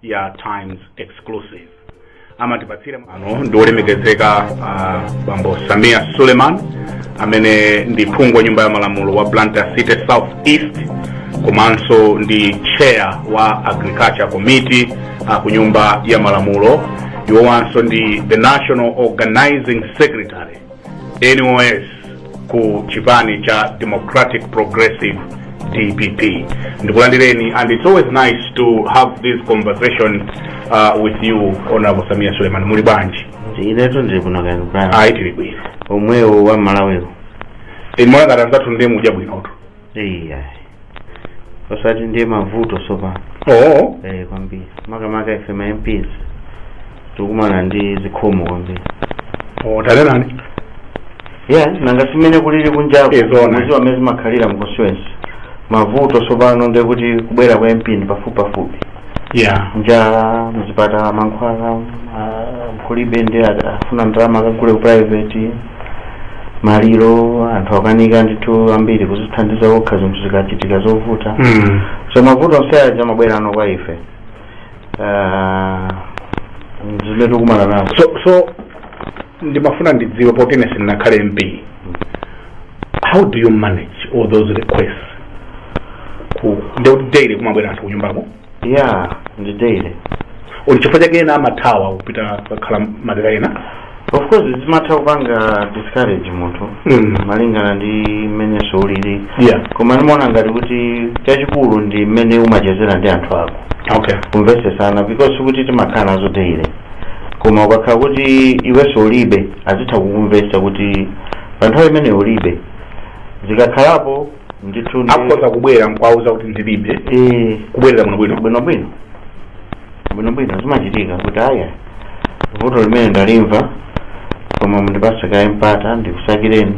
ya times exclusive amatipatsira ano ndi olemekezeka uh, bambo sameer suleman amene ndi phungu wa nyumba ya malamulo wa blantyre city south east komanso ndi chair wa agriculture committee uh, ku nyumba ya malamulo iwowanso ndi the national organizing secretary NOS ku chipani cha Democratic Progressive DPP. Ndikulandireni and it's always nice to have this conversation uh, with you Honorable Sameer Suleman muli bwanji? inetu ndili bwino kaya kubala Ayi tili bwino. omwewo wa malawiwo Imwe ngati anzathu ndiye mudya bwinotu. eyi ayi osati ndiye mavuto sopano oo eh kwambiri makamaka ife ma mps tikumana ndi zikhomo kwambiri oo tanenani ya nanga si mmene kulili kunjako Eh, zoona. muziwa mmene zimakhalira mu constituency mavuto sopano ndekuti kubwera kwa mp ndi pafupipafupi yeah njala mzipatala mankhwala ah, kulibe ndi a- afuna ndalama akagule ku private maliro anthu akanika ndithu ambiri kuzithandiza okha zinthu zikachitika zovuta mm. so mavuto onse aja amabwerano kwa ife Ah, zimene tikumana nazo so so ndimafuna ndidziwe poti ine sindinakhale mp how do you manage all those requests ku ndikuti daily kumabwera anthu kunyumbako ya ndi daily nchifukwa chake ena amathawa kupita kakhala madera ena of course zimatha kupanga discourage munthu Mm. malingana ndi mmenenso ulili yeah koma ndimaona ngati kuti chachikulu ndi mmene umachezera ndi anthu ako okay kumvetsesana because sikuti timakhala nazo daily koma ukakhala kuti iwenso ulibe azitha kukumvetsa kuti pa nthawi imene ulibe zikakhalapo ndithu ndi- akhoza kubwera nkwauza kuti ndilibe Eh, kubwerera muno bwino bwinobwino bwinobwino zimachitika kuti aya vuto limene ndalimva koma mundipase kaye mpata ndikusakireni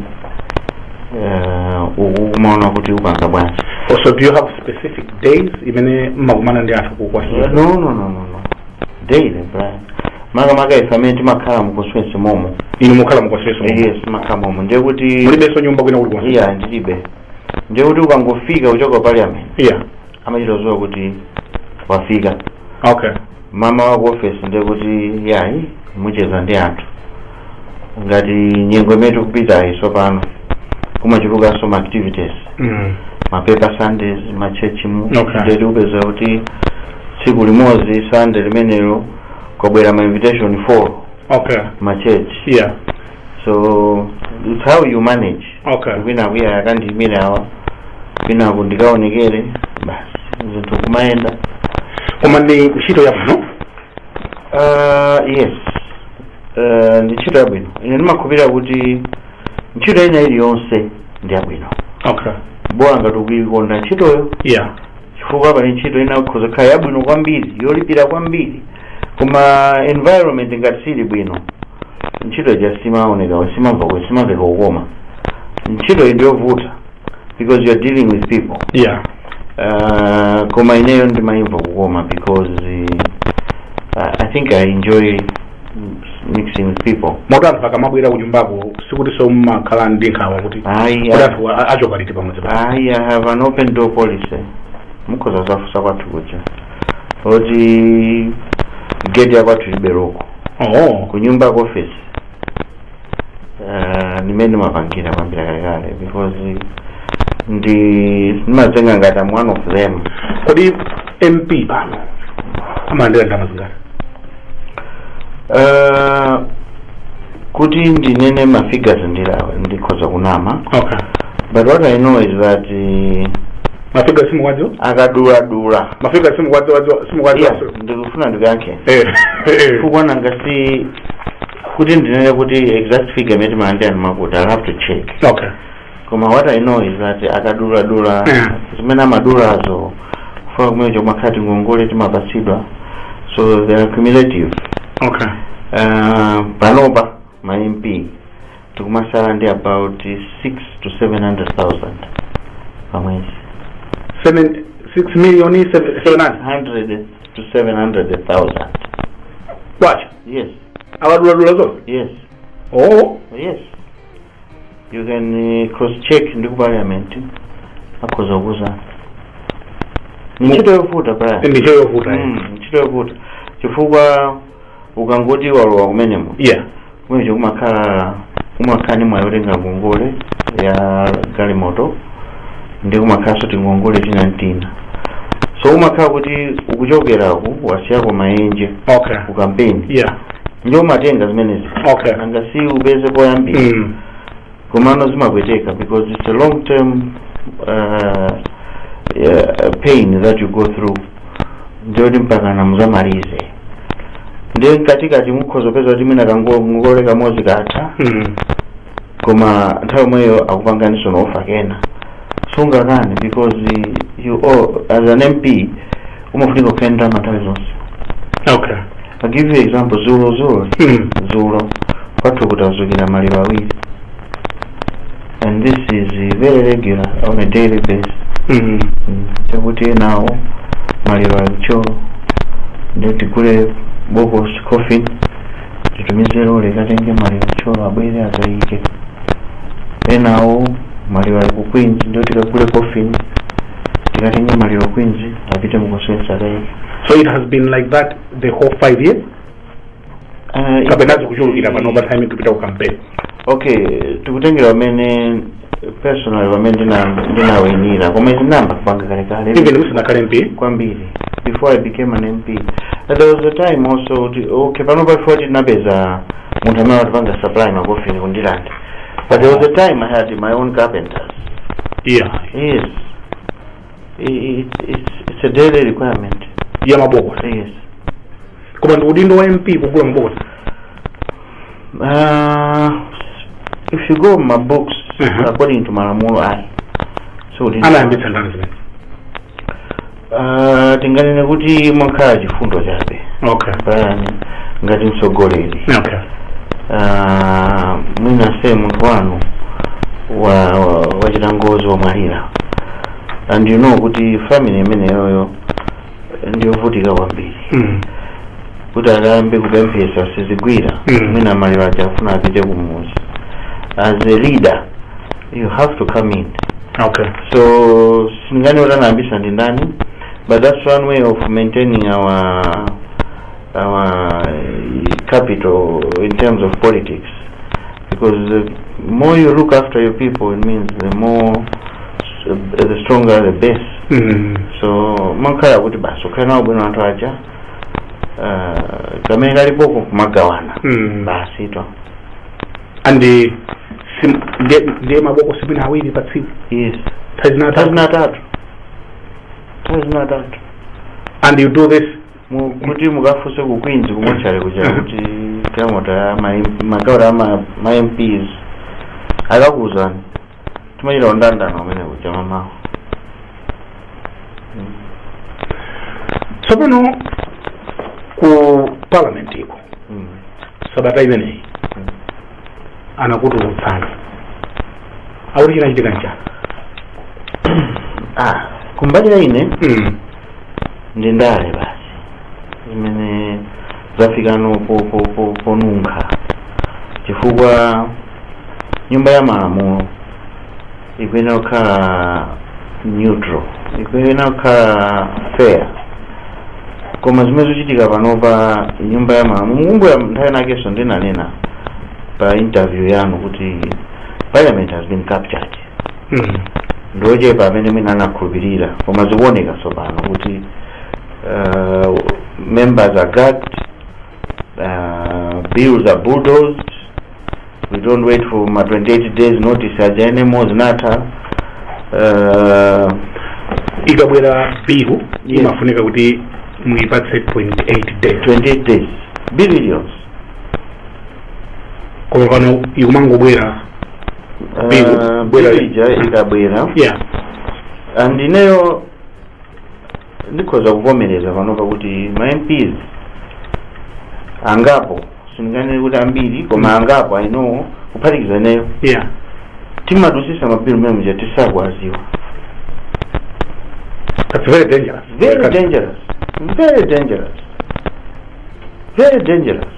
Eh, uku kumaona kuti upanga bwanji also do you have specific days imene mmakumana ndi anthu kukwasula no no no no no daily brian makamaka ife amene timakhala mu constituency momo inu mukhala mu constituency momo? yes timakhala momo ndiye kuti mulibenso nyumba kwina kulikonse iya ndilibe ndiye kuti ukangofika kuchoka parliament iya amachita dziwa kuti wafika okay mamawa ku office ndiye kuti yayi mucheza ndi anthu ngati nyengo imene tikupitayi tsopano kumachulukanso ma activities Mm. ma paper sundays ma church mu Okay. ndiye tikupeza kuti tsiku limodzi sunday limenelo kwabwera ma invitation 4 Okay. ma church Yeah. so it's how you manage Okay. kwina kuja akandiyimire awa kwina kundikaonekere basi zinthu kumayenda Koma ndi ntchito yabwino Uh, yes uh, ndi ntchito yabwino ine ndimakhulupirira kuti ntchito ina iliyonse ndi yabwino okay bola ngati ukuikonda ntchitoyo yeah chifukwa pali ntchito ina ikhoza kukhala yabwino kwambiri yolipira kwambiri koma environment ngati sili bwino ntchito ija simaoneka simamveka kukoma ntchito iyi ndiyovuta because you are dealing with people yeah uh, koma ineyo ndimayimva kukoma because uh, i think i enjoy mixing with people moti anthu akamabwera kunyumbako sikuti mwina ndimakhala ndi nkhawa kuti Ayi, kuti ayi. anthu a- achoka liti pamudzi pano ayi i have an open door policy mukhoza kuzafunsa kwathu kuja oti geti yakwathu liberoko oh kunyumba ku office Eh, ndimmene ndimapangira kuyambira kalekale because ndi ndimadzitenga ngati am one of them kodi mp pano amalandira ndalama zingati Eh, kuti ndinene ma figures ndilawe ndikhoza kunama okay but what i know is that eh, ma figure simukuwadziwa akaduladula ma figure simukuwadziwa Yeah, simukuwadziwa ndikufuna ndikuyankhe Eh, eh, chifukwa nanga si kuti ndinene kuti exact figure imene timalandira ndi wakuti i'll have to check okay koma what i know is that akaduladula Yeah. zimene amadulazo chifukwa kumene kuja kumakhala tingongole timapatsidwa so they are cumulative okay uh, panopa ma mp tikumasala ndi about 6 to 700000 pamwezi seven six million seven seven hundred 100 to 700000 kwacha yes akaduladula zonse yes oh yes you can uh, cross check ndi ku parliament akhoza kukuuzani Mu- ntchito yovuta bwana ndi ntchito yovuta Mm, ntchito yovuta chifukwa ukangoti walowa kumeneko yeah kumene kuja kumakhala kumakhala ni mwayi otenga ngongole ya galimoto ndi kumakhalanso tingongole tina tina so umakhala kuti ukuchokera ku wasiyako maenje okay ku kampeni yeah ndiye umatenga zimenezi Okay. nanga si upeze poyambira mm. komano zimapweteka because it's a long term uh, uh, pain that you go through ndiye kuti mpaka muzamalize ndiye mkatikati mukhoza kupeza kuti mwina kangongole kamodzi katha mm. koma nthawi yomweyo akupanganiso ma offer ndiye sungakane because you as an mp umafunika kukhala ndi ndalama nthawi zonse okay i give you example zulo zulo Mm. zulo kwathu kudadzukira maliro awiri and this is uh, very regular on a daily basis Mm. Mm, chakuti enawo maliro ali ku Thyolo ndiye tigule bokosi coffin titumize lole ikatenge maliro ku Thyolo abwere akaike enawo maliro ali ku queens ndiye tikagule coffin tikatenge maliro ku queens apite Mikolongwe akaike so it has been like that the whole five years Ah, kapena zikuchulukira pano pa time tikupita ku campaign okay tikutengera pamene personal pamene ndina- ndinawinira koma izi ndinayamba kupanga kalekale even musanakhale mp kwambiri before i became an mp And there was a time also kuti okay pano before tinapeza munthu amene amatipanga supply makofini ku Ndirande but there was a time i had my own carpenters yeah yes I- it's, it's, it's a daily requirement ya mabokosi yes koma ndi udindo wa mp kugula mabokosi uh, if you go by books Mhm. according to malamulo ayi si udindo anayambitsa ndani zimenezi Ah, tinganene kuti umakhala chifundo chabe okay pajatu ngati mtsogoleri okay Ah, mwina se munthu wanu wa- wa- wachita ngozi wamwalira and you know kuti family imeneyoyo ndiyovutika kwambiri Mm. kuti akayambe kupemphesa sizigwira Mm. mwina maliro aja akufuna apite kumuzi as a leader you have to come in okay so sindinganene kuti anayambisa ndi ndani but that's one way of maintaining our our capital in terms of politics because the more you look after your people it means the more the stronger the base Mm. so umakhala kuti basi ukhale nawo bwino anthu aja uh, kamene kalipoko kumagawana Mm. basi to and eh, sim- ndi- ndiye mabokosi mwina awiri pa tsiku yes nthawi zina atatu nthawi zina atatu nthawi zina atatu and you do this Mu- kuti mukafunse ku queens ku mortuary kuja kuti kamuthu ma- magawiro a ma- ma mps akakuuzani timachita ndandanda umene kuja mamawo tsopano ku parliament iko Mm. sabata imeneyi Mm. anakutulutsani akuti chinachitika nchani ah kumbali ya mm. ndi ndale basi imene zafikano po- po- po- ponunkha chifukwa nyumba ya malamulo ikuyenera kukhala neutral ikuyenera kukhala fair koma zimene zikuchitika panopa nyumba ya malamulo mukumbukira nthawi inakenso ndinanena pa interview yanu kuti parliament has been captured ndiochepa amene mwina anakhulupirira koma zikuoneka tsopano kuti uh, members are gagged uh, bills are bulldozed we don't wait for ma 28 days notice aja anymore zinatha uh, ikabwera bill Yes. imafunika kuti muipatse 28 days 28 days billions koma pano ikumangobwera Bill, Ah, bwera Bill. ija ikabwera yeah and ineyo ndikhoza kuvomereza pano pakuti ma mps angapo sindinganene kuti ambiri koma angapo i know kuphatikiza ineyo yeah timadusisa mabilu mmene muja tisakuwadziwa that's very dangerous very dangerous very dangerous very dangerous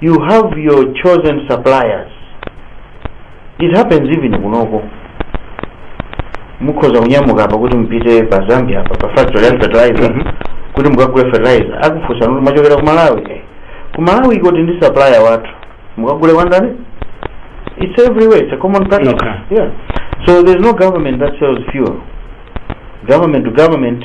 you have your chosen suppliers it happens even kunoko mukhoza kunyamuka apa kuti mupite pa zambia apa pa factory ya fertilizer Mhm. kuti mukagule fertilizer akufunsani kuti mumachokera ku malawi eh. ku malawi kuli ndi supplier wathu mukagule kwa ndani it's everywhere it's a common practice Okay. yeah so there's no government that sells fuel government to government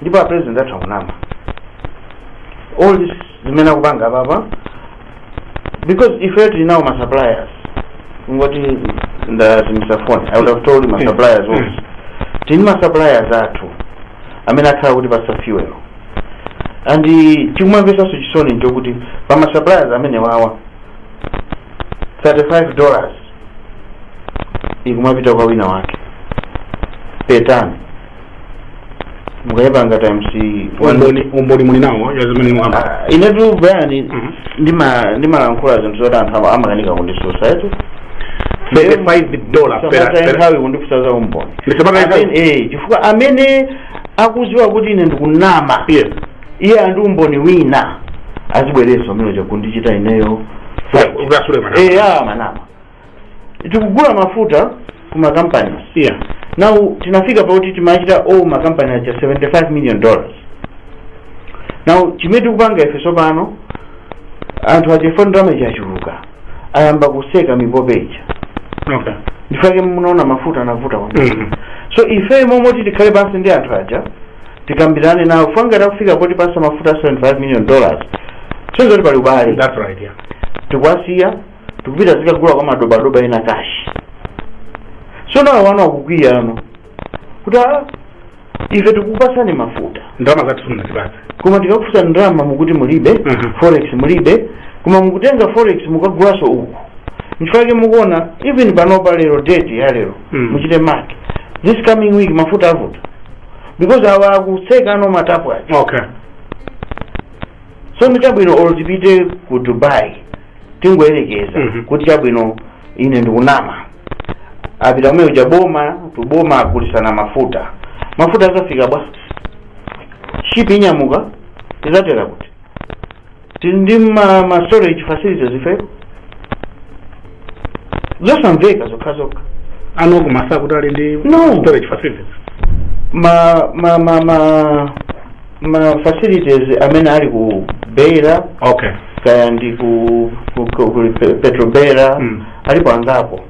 ndipo a president that's zonama all this zimene akupanga apapa because ife tili nawo ma suppliers nkuti ndadza ndi phone i would have told ma suppliers also tili ma suppliers athu amene akhala akutipatsa fuel and chikumamvesanso chisoni nchokuti pa ma suppliers amenewawa 35 dollars ikumapita kwa wina wake petani mukayipanga times one- umboni umboni muli nawo ya zimene mukamba Ah, inetu bayani Mhm. ndima- ndimalankhula zinthu zoti anthu ama- amakanika kundisusa at 35 dollar per Samata per- nthawi kundifunsa za umboni Ndi samata nthawi? Amene- eh, chifukwa amene akuziwa kuti ine ndikunama yes iye andi umboni wina azibwereso amene chakundichita ineyo ukasule mana eya manama tikugula mafuta ku makampani yeah now tinafika pakuti timachita owe makampani aja 75 million dollars now chimene tikupanga ife tsopano anthu aja poti ndalama ija yachuluka ayamba kuseka mipope ija okay nchifake munaona mafuta anavuta kwambiri Mhm. so ife m'malo moti tikhale pansi ndi anthu aja tikambirane nawo kufikana kufika potipasa mafuta 75 million dollars ndi zoti pali ubale that's right yeah tikuwasiya tikupita kukagula kwa madobadoba ena cash so now awa akukwiya ano kuti "Ah, ife tikupasani mafuta ndalama zathu simunatipatse koma tikakufunsani ndalama mukuti mulibe Mhm. forex mulibe koma mukutenga forex mukagulaso uku nchifake mukuona even panopa lero date ya lero Mm. muchite mark this coming week mafuta avuta because awa akuseka no matapu aja okay so ndichabwino olo tipite ku dubai tingoyerekeza Mhm. kuti chabwino ine ndikunama apita kumeneko kuja boma to boma agulisana mafuta mafuta azafika bwanji shipi inyamuka izatera kuti tili ndi ma, ma storage facilities ife zosamveka zokhazokha ano kumati kuti ali ndi No. storage facilities ma ma ma ma ma facilities amene ali ku beira okay kaya ndi ku, ku, ku, ku Pe- petrobeira Mm. alipo angapo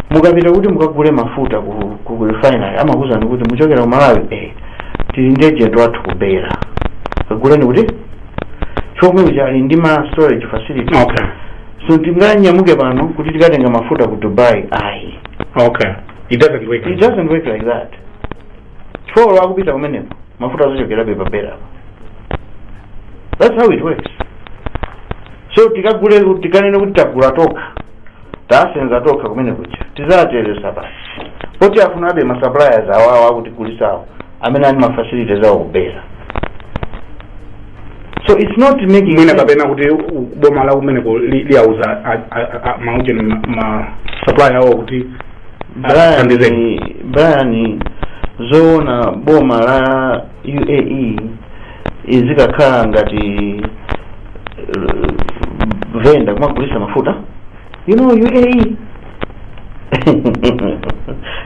mukapita kuti mukagule mafuta ku, ku, ku refinery amakuuzani kuti muchokera ku malawi eh, tili ndi agent wathu ku beira kaguleni kuti yemwe uja ali ndi ma storage facility okay so tinganyamuke pano kuti tikatenga mafuta ku dubai ayi okay it doesn't work it doesn't work like that chifukwa akupita kumeneko mafuta azachokerabe pa beira apa that's how it works so tikagule tikanene kuti tagula tokha tasenza tokha kumeneko kuja tizateresa pati tizafunabe ma suppliers awawo akutigulisawo amene ali ma facilities awo ku beira so it's not making mwina sense. kapena kuti u- boma la kumeneko li- liyauza a- a- a- maagent ma- ma supply awo kuti Athandizeni. brian zoona boma la uae izikakhala ngati eh, venda kumagulisa mafuta you know uae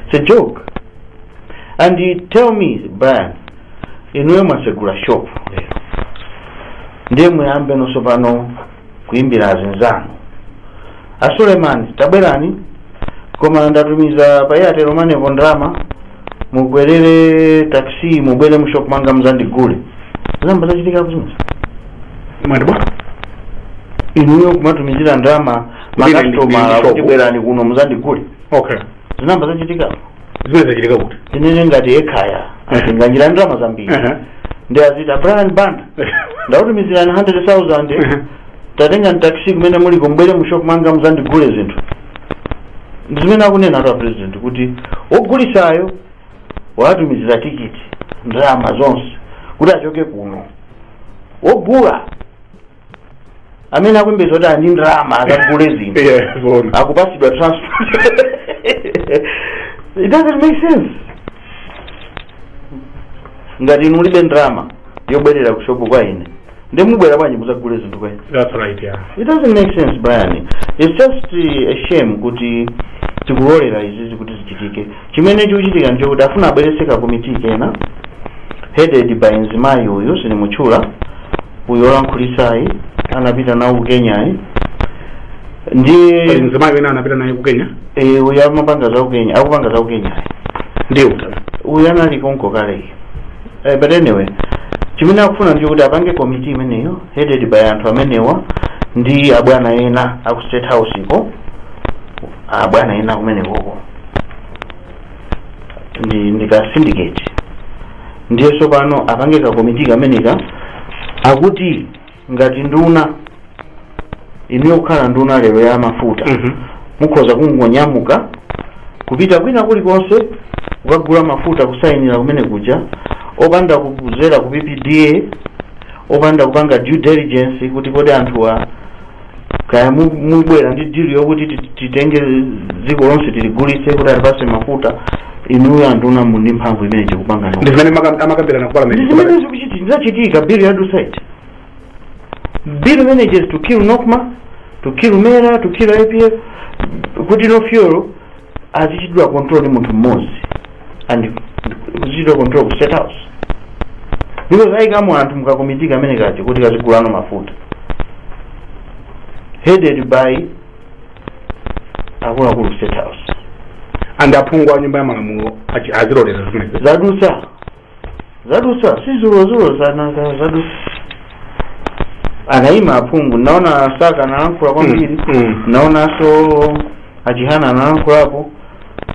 it's a joke and you tell me brian inuyo mwasegula shop lero ndiye muyambeno tsopano kuimbira azinzanu a suleiman tabwerani koma ndatumiza pa airtel money po ndalama mukwerere taxi mubwere mushop mwanga muzandigule zinayamba zachitika kuzimusa mwatibwa inuyo kumatumizira ndalama Kuti ndi- ndi- ndi makasitomala shop. kuti bwerani kuno muzandigule okay zinayamba zachitikapo zimene zachitika kuti tinene ngati ekhaya azinganjira ndalama zambiri Aha. ndiye aziti brian banda ndautumizirani 100000 tatengani taxi kumene muliko mubwere mu shop mwanga muzandigule zinthu ndi zimene akunenatu apresident kuti wogulisayo watumizira tikiti ndalama zonse kuti achoke kuno wogula amene akuyembekeza kuti ali ndi ndalama akagule zinthu Yeah, zoona. akupasidwa transport it doesn't make sense ngati inu mulibe ndalama yobwerera ku shopu kwa ine ndiye mubwera bwanji muzagule zinthu kwa ine That's right, yeah. it doesn't make sense brian it's just uh, a shame kuti tikulolera izizi kuti zichitike Chimene chikuchitika nchokuti afuna abweretse ka committee kena headed by mzimayi uyu sindimutchula uyu olankhulitsayi anapita nawo ku Kenyayi ndiye Pali mzimayi wina anapita naye ku Kenya eh, uyu amapanga za ku Kenya akupanga za ku Kenyayi ndiye utana uyu anali konko kaleyo eh, but anyway chimene akufuna ndi kuti apange komiti imeneyo headed by anthu amenewa ndi abwana ena aku state house ko abwana ena kumenekoko ndi ndi ka syndicate ndiye tsopano apange ka komiti kameneka akuti ngati nduna inuyo kukhala nduna lero ya mafuta Mhm. mukhoza kungonyamuka kupita kwina kulikonse kukagula mafuta kusayinira kumene kuja opanda kuzera ku ppda opanda kupanga due diligence kuti kodi anthuwa kaya mu- mubwera ndi dili yokuti ti- titenge dziko lonse tiligulitse kuti atipase mafuta inuyo anduna muli ndi mphamvu imene chikupanga ndi zimene maka- amakambirana ku parliament ndizimene zikuchitika ndizachitika bill yadutsayi the bill manages to kill nocma to kill mera to kill pil kuti no fuel azichitidwa control ndi munthu mmodzi and kazichitidwa control ku state house because ayikamo anthu mukakomiti kamene kaja kuti kazigulano mafuta headed by akuluakulu state house and aphungu a nyumba ya malamulo achi- azilolera zimenezi zadutsa zadutsa si dzulodzulo nanga zadutsa anayima aphungu munaona a Saka analankhula kwambiri Mm. munaonanso a Chihana analankhulapo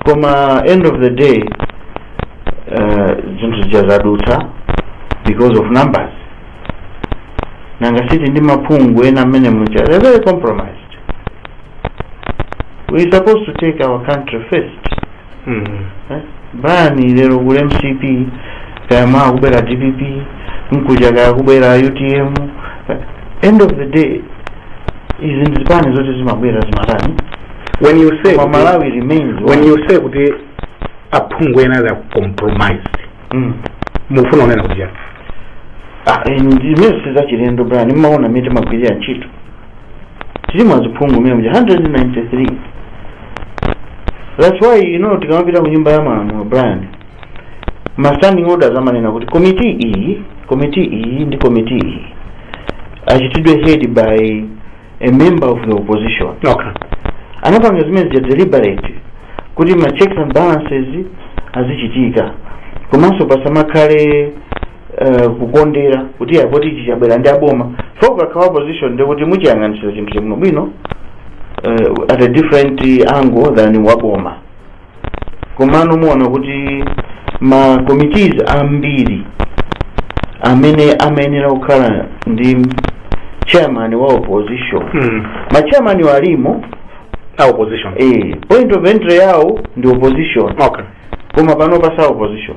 koma end of the day eh, zinthu zija zadutsa because of numbers nanga siti aphungu ena mmene muja they're very compromised we supposed to take our country first Brian lero kuli mcp kaya mawa kubwera dpp mkucha kaya kubwera utm end of the day izi ndizipani zoti zimabwera zimatha when you say koma kuti- malawi remains when one. you say kuti aphungu ena ali akucompromise Mm. mukufuna kunena kuti chani Ah, eh, ndimene sizachilendo Brian timaona mmene timagwirira ntchito tili maphungu mmene muja 193 that's why you know tikamapita ku nyumba ya malamulo brian ma standing orders amanena kuti komiti iyi komiti iyi ndi komiti iyi achitidwe head by a member of the opposition okay anapanga zimene zija deliberate kuti ma checks and balances azichitika komanso pasamakhale uh, kukondera kuti poti ichi chabwera ndi aboma chifukwa ukakhala opposition ndi kuti umachiyang'anitsitsa chinthucho bwinobwino uh, at a different angle than waboma komano muona kuti ma committees ambiri amene amayenera kukhala ndi chairman wa opposition Mm. ma chairman wo alimo a opposition eh, point of entry yawo ndi opposition okay koma pano pansi a opposition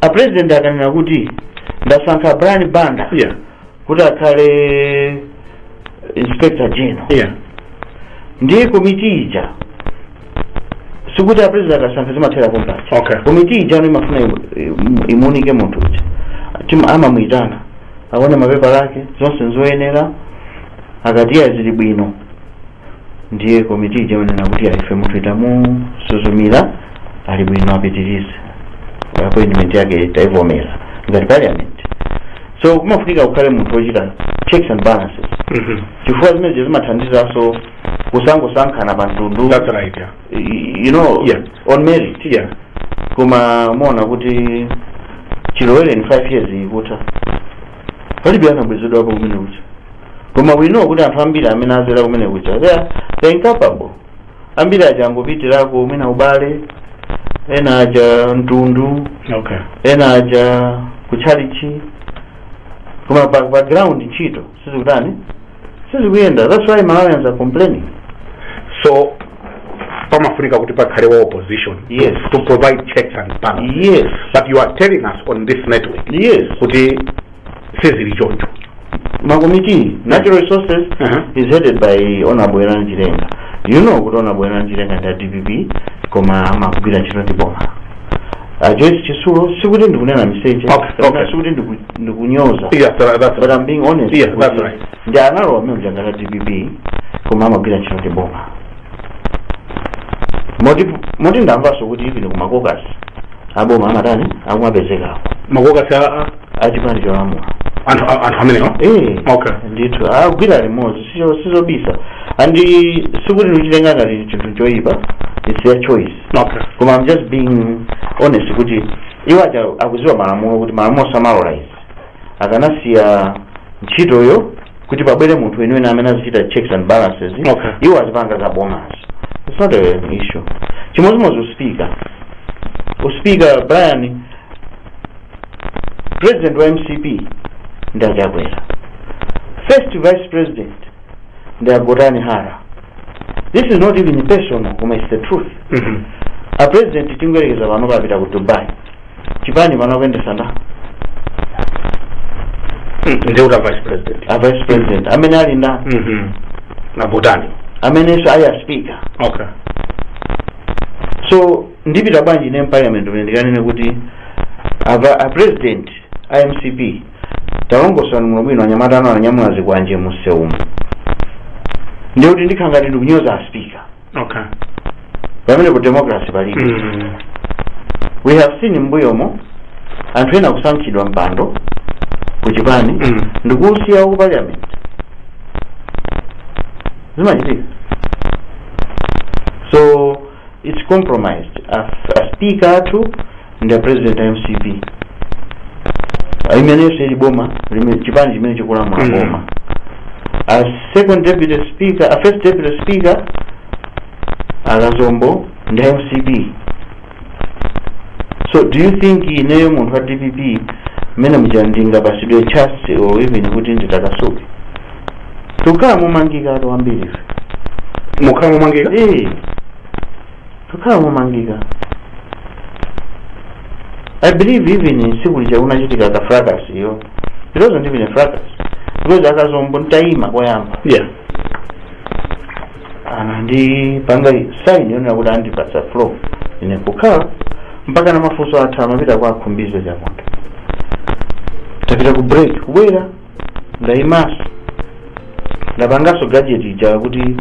a president akanena kuti ndasankha brian banda yeah kuti akhale inspector general yeah ndiye komiti ija sikuti a president akasankha zimathera pompaja Okay. komiti ija no imafuna imu- imu- imuunike munthu uja Tim- amamuyitana aone mapepala ake zonse nzoyenera akati ya zili bwino ndiye komiti ija imanena kuti ya ife munthuyu tamusuzumira ali bwino apitirize appointment yake taivomera ngati parliament so kumafunika kukhale munthu wochita checks and balances Mhm. chifukwa zimenezo zimathandizanso kusangosankhana pa mtundu That's right, yeah. y- you know Yeah. on merit Yeah. koma muona kuti chilowereni 5 years ikutha palibe anabwezedwapo kumene kuja Koma we know kuti anthu ambiri amene azera kumene kuja they are, they are incapable. Ambiri aja angopitirako mwina ubale, ena aja mtundu, okay ena aja kutchalichi. Koma pa, pa ground ntchito sizikutani sizikuyenda. That's why Malawians are complaining. so pamafunika kuti pakhale wa opposition Yes. to provide checks and balances Yes, but you are telling us on this network yes. kuti sizili choncho makomiti natural resources Aha. is headed by honorable Werani Chilenga you know kuti honorable Werani Chilenga ndi a dpp koma amagwira ntchito ndi boma a Joyce Chitsulo sikuti ndikunena miseche Okay, kapena okay. sikuti ndiku- ndikunyoza yeah tha- that's but I'm being honest Yeah, that's kuti right. ndi analowa amene mjangala dpp koma amagwira ntchito ndi boma moti moti ndamvanso kuti even ku makokasi aboma amatani akumapezekako makokasi a- a- achipani cholamula anthu a- anthu amenewa Eh, Okay. ndithu agwira limodzi sizo- sizobisa and sikuti ndikuchitenga ngati chinthu choyipa its their choice okay koma i'm just being honest kuti iwo aja akuziwa malamulo kuti malamulo samalola izi akanasiya ntchitoyo kuti pabwere munthu weniweni amene azichita checks and balances Okay. iwo azipanga za boma its not an issue chimodzimodzi uspika uspika brian president wa mcp ndi achakwera first vice president ndi agotani hara this is not even personal koma it's the truth Mhm. a president tingoyerekeza pano apita ku dubai chipani pano akuyendesa nda Mm, ndiye kuti a vice president a vice president amene ali nda Mhm. ndi a Gotani amenenso ali a speaker okay so ndipita bwanji ine mparliament umene ndikanene kuti ava a president a mcp Talongosolani bwino bwino anyamata anu ananyamula zikwanje mu nsewumu ndiye kuti ndikhala ngati ndikunyoza a speaker okay pamenepo democracy palibe mm. we have seen mbuyomo anthu ena kusankhidwa mpando ku chipani Mm. ndikusiya ku parliament zimachitika so its compromised aspika athu ndi apresident a mcp imenenso ili boma lime- chipani chimene chikulamula Mm. boma a second deputy speaker a first deputy speaker akazombo ndi a mcp so do you think ineyo munthu wa dpp mmene muja ndingapasidwe chance or even kuti nditakasuke tikukhala momangikatu ambiri ife tikukhala momangika ee tikukhala momangika i believe even siku lija kunachitika ka fracas iyo it wasn't even a fracas because akazombo nditayima koyamba yeah anandipanga sign yonena kuti andipatsa floor ine kukhala mpaka na mafunso athu amapita kwa a Khumbize Chiponda tapita ku break kubwera ndaimaso ndapangaso gadget ija kuti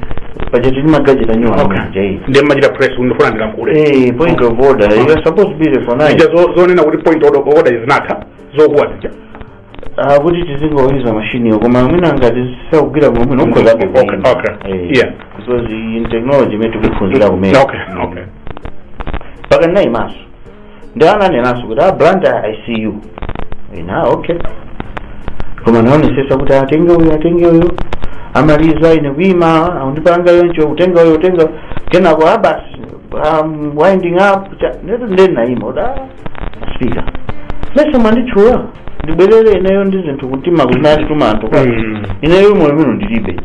paja tili magadget anyuwa Okay. ndiye mumachita press ndifuna ndilankhule Eh, point of order you are supposed to be recognized zija zo- zonena kuti point of order zinatha zokuwa zija Ah, kuti tizingoyuza mashiniyo koma mwina ngati sakugwira bwino mwina ukhoza Okay, kukuima. okay. Eh, Yeah. because ndi technology imene tikuphunzira kumene okay okay mpaka ndinayimaso ndi ananenanso kuti a blantyre I see you ine okay koma naonesesa kuti atenge uyu atenge uyu amaliza ine kuima aundipanga yoncho utenga uyu utenga kenako abasi um, winding up cha- netu ndeni naima Madam Speaker please mwanditchula ndibwerere ineyo ndi zinthu kutima kunali tumantha Mm. ineyo mmoyo muno ndilibe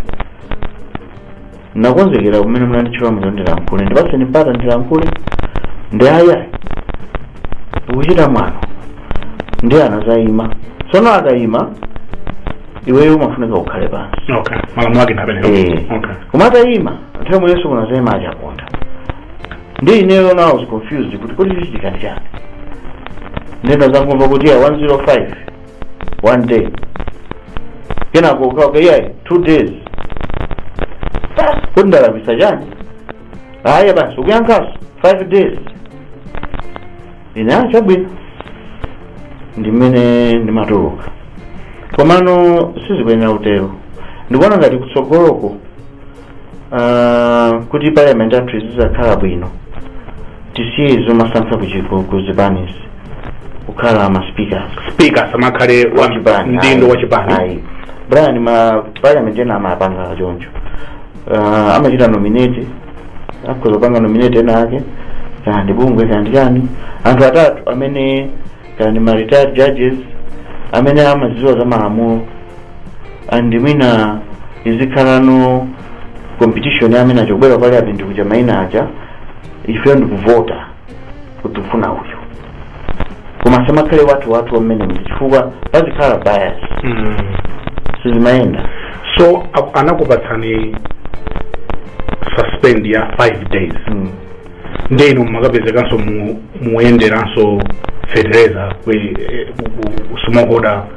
Nakonzekera kumene munanditchula muja kuti ndilankhule. Ndipatseni mpata ndilankhule. Nde ayi ayi. Ukuchita mwano. Ndiye anazayima. Tsono akayima, iweyo umafunika ukhale pansi. Okay. Malamulo ake ndi amenewo. Eh. Okay. Koma atayima, nthawi yomweyonso kunazayima a Chaponda. Ndi ineyo now I was confused kuti kodi chichitika ndi chani. Nde ndinazangomva kuti 105 one day kenako akuti iyayi two days basi kuti ndalakwisa chani ayi basi ukuyankhanso five days ine ah chabwino ndimene ndimatuluka komano sizikuyenera kutero ndikuona ngati kutsogoloko Ah, kuti parliament yathu izizakhala bwino tisiye zomasankha kuchoka ku zipanizi kukhala ma speakers speaker asamakhale mdindo, wa chipani ayi. brian ma parliament ena amapanga choncho Ah, amachita nominate akhoza kupanga nominate ena ake kaya ndi bungwe kaya ndi chani anthu atatu amene kaya ndi ma retired judges amene amazidziwa za malamulo and mwina izikhalano competition ya amene azabwere parliament kuja maina aja ifeyo ndikuvota kuti tikufuna uyu koma asamakhale wathu wathu wamene muja chifukwa pazikhala bias Mm. sizimayenda so a- anakupatsani suspend ya 5 days mm. nde ino mumakapezekanso muyenderanso fertilizer kwe- eh, ku- ku- smallholder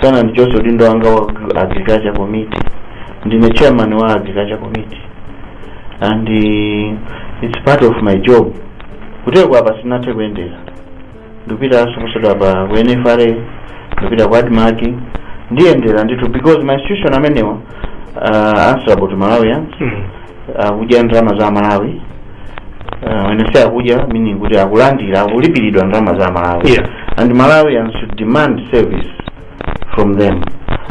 sana ndichoso udindo wanga wa agri- agriculture committee ndine chairman wa agriculture committee and uh, it's part of my job kuteko apa sinathe kuyendera ndikupitanso posachedwapa ku NFRA ndikupita ku ADMARC ndiyendera ndithu because ma institution amenewa are answerable to malawians Mm. akudya ndalama za amalawi uh, when I say akudya meaning kuti akulandira akulipiridwa ndalama za amalawi Yeah. and malawians should demand service from them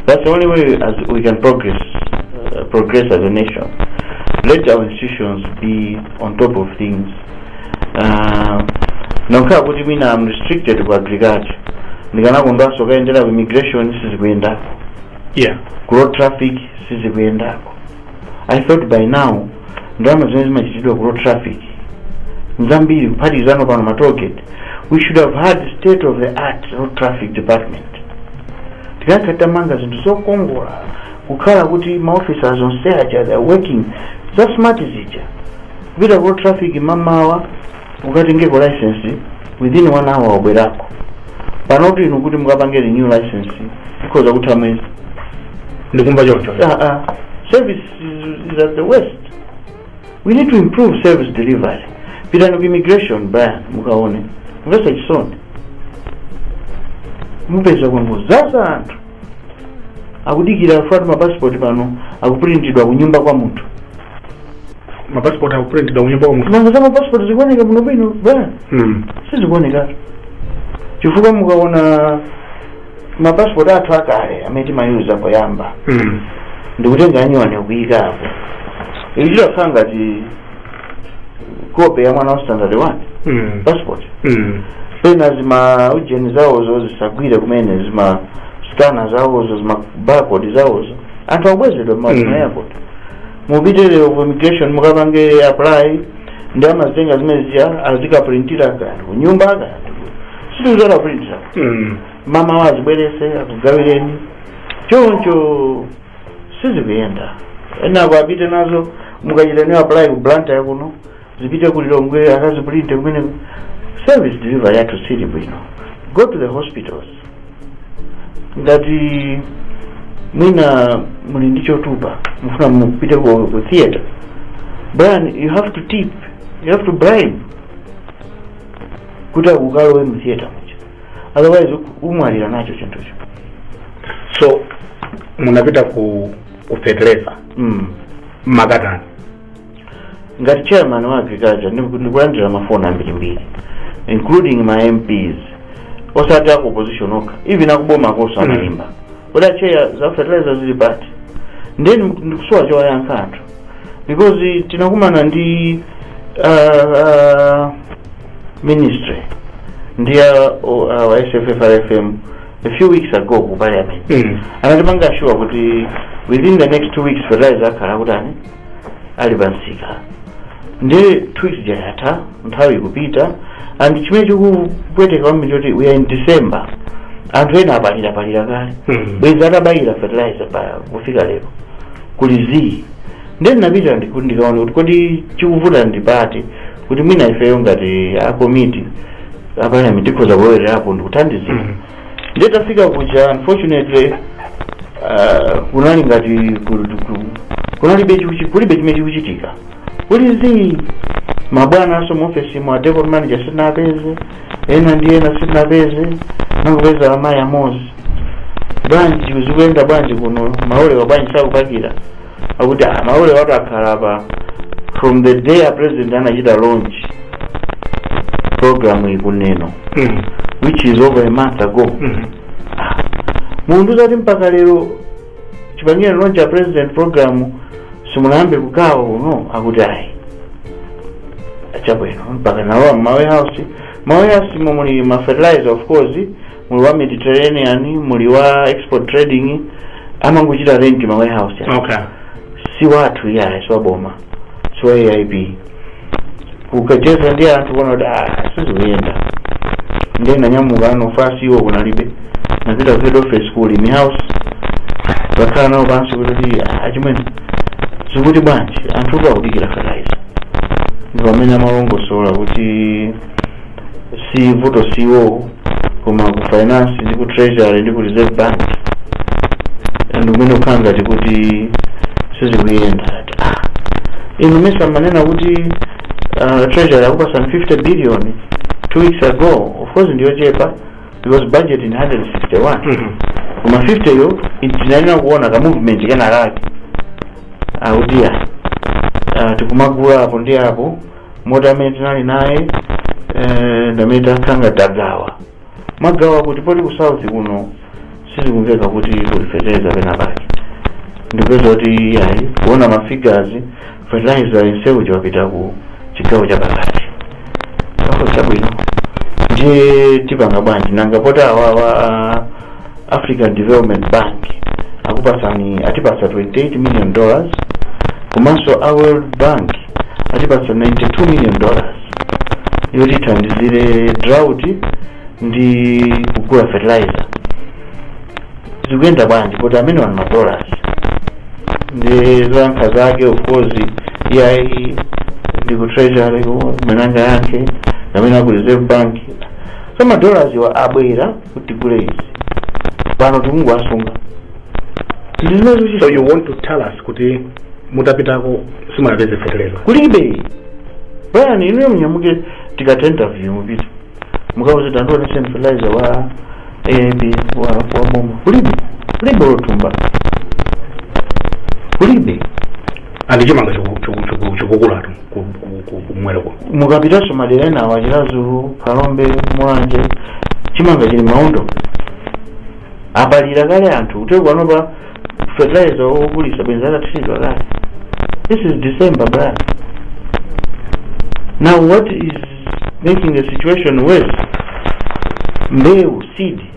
that's the only way as we can progress uh, progress as a nation let our institutions be on top of things uh, kungokhala kuti mwina am restricted ku agriculture ndikanakondwanso kukayendera ku immigration sizikuyenda yeah ku road traffic sizikuyenda I thought by now ndalama zimene zimapezedwa ku road traffic n'zambiri kuphatikizanso pano ma toll gate we should have had state of the art road traffic department tikanakhala titamanga zinthu zokongola kukhala kuti ma officers onse aja they are working za smart zija kupita ku road traffic mamawa ukatengeko licence within 1 hour wabwerako. panotu inu kuti mukapange renew licence zikhoza kutha mwezi. ndikumva chisoni Ah, ah. service is, is at its worst we need to improve service delivery pitani ku immigration Brian mukaone zomvetsa chisoni mupeza kwangodzaza anthu akudikira kufunatu mapasipoti pano akupulintidwa kunyumba kwa munthu mapasipoti akupulintidwa kunyumba kwa munthu nanga za mapasipoti zikuoneka bwino bwino Brian Mm. sizikuoneka chifukwa mukaona mapasipoti athu akale amene timayuza poyamba Mm. ndikutenga anyuwani kuika apo ichi chakhala ngati kope ya mwana wa standard 1 Mm. passport Mm. pena zima ujeni zawozo zisagwire kumene zima skana zawozo zima barcode zawozo anthu akubwezedwa mmaumu mma airport mupite lero ku immigration mukapange apply ndi amazitenga zimene zija azikaprintira kaya ndi kunyumba kaya ndi ku City Centre akaprintira Mm. mamawa azibwerese akugawireni choncho sizikuyenda enako apite nazo mukachita apply ku Blantyre kuno zipite ku lilongwe akazipulinte kumene service delivery yathu siili bwino go to the hospitals ngati mwina muli ndi chotupa mufuna mupite ku, ku theater brian you have to tip you have to bribe kuti ukalowe mu theater otherwise u- umwalira nacho chinthucho so munapita ku ku fertilizer mumakatani ngati chairman wa agriculture ndiku- ndikulandira mafoni ambirimbiri including ma mps osati aku opposition okha even akubomakoso amaimba kodi acheya za fertilizer zili pati ndiye ndiku- ndikusowa chowayankha anthu because tinakumana ndi uh, uh, ministry ndi a uh, uh, sffrfm a few weeks ago ku parliament Mm. anatipanga assure kuti within the next two weeks fertilizer akhala akutani ali pansika ndi two weeks ija yatha nthawi ikupita and chimene chikupweteka kwambiri choti we are in december anthu ena apalira palira kale Mm. bwezi atabayira fertilizer pa kufika lero kuli zii ndiye ndinapita ndiku- ndikaone kuti kodi chikuvuta ndi pati kuti mwina ifeyo ngati akomiti aparliament tikhoza kulowererapo ndikuthandizira Mm. nditafika kuja unfortunately uh, kunali ngati ku- ku- kunalibe chiku- kulibe chimene chikuchitika kuli zii mabwanaso muofesi mwa depot manager sitinapeze ena ndi ena sitinapeze nangopeza amayi amozi bwanji zikuyenda bwanji kuno malolewa bwanji sakupakira akuti ah, malolewatu akhala apa from the day a president anachita launch program yi ku neno Mhm. which is over a month ago Mhm. mundiuza kuti mpaka lero chipangire launch a president program simunayambe kugawa kuno akuti ayi chabwino mpaka nalowa mma warehouse ma warehouse momwe muli ma fertilizer of course muli wa mediterranean muli wa export trading amangochita rent ma warehouse aja. okay si wathu iyayi si waboma si wa aip ukacheza ndi anthu kuona kuti "Ah, sizikuyenda ndiye nanyamukano fast iwo kunalibe napita ku head office ku mlimi house nakhala nawo pansi kuti "Ah, achimwene zikuti bwanji anthu akudikira fertilizer ndi pamene amalongosola kuti si vuto si iwowo koma ku finance ndi ku treasury ndi ku reserve bank ndi kumene kukhala ngati kuti sizikuyenda nati ah inu mesa amanena kuti uh, treasury akupasani 50 billion two weeks ago of course ndiyochepa because budget ndi 161 Mhm. koma 50 yo tinayenera kuona ka movement kenakake akuti ya uh, tikumagula apo ndi apo moti amene tinali naye eh, ndi amene takhala tagawa magawa kuti poti ku south kuno sizikumveka kuti kuli fertilizer pena pake ndikupeza kuti iyayi kuona mafigazi fertilizer yenseyu wapita ku chigawo chapakati chabwino ndiye tipanga bwanji nanga poti awawa African Development Bank akupatsani atipatsa 28 million dollars komanso a World Bank atipatsa 92 million dollars yotithandizire drought ndi kugula fertilizer zikuyenda bwanji poti amene wa madollars ndi zoyankha zake of course iyayi ndi ku treasury mwinanso kaya amene aku reserve bank so madollars wa abwera kuti tigule izi pano tikungowasunga tili nazo so chisa you want to tell us kuti mutapitako simungapeze feteleza kulibe brian inuyo munyamuke tikatha interview mupite mukawauze tandionetse fertilizer wa AIP wa wa boma kulibe kulibe matumba kulibe and chimanga choku- choku- choku- chikukulatu ku- ku- ku- kumwera kuno mukapitanso madera ena awa chiradzulu phalombe mulanje chimanga chili m'maondo apalira kale anthu kutereku pano pa fertilizer wogulisa bwenzi atathiridwa kale this is december bra now what is making the situation worse mbewu seed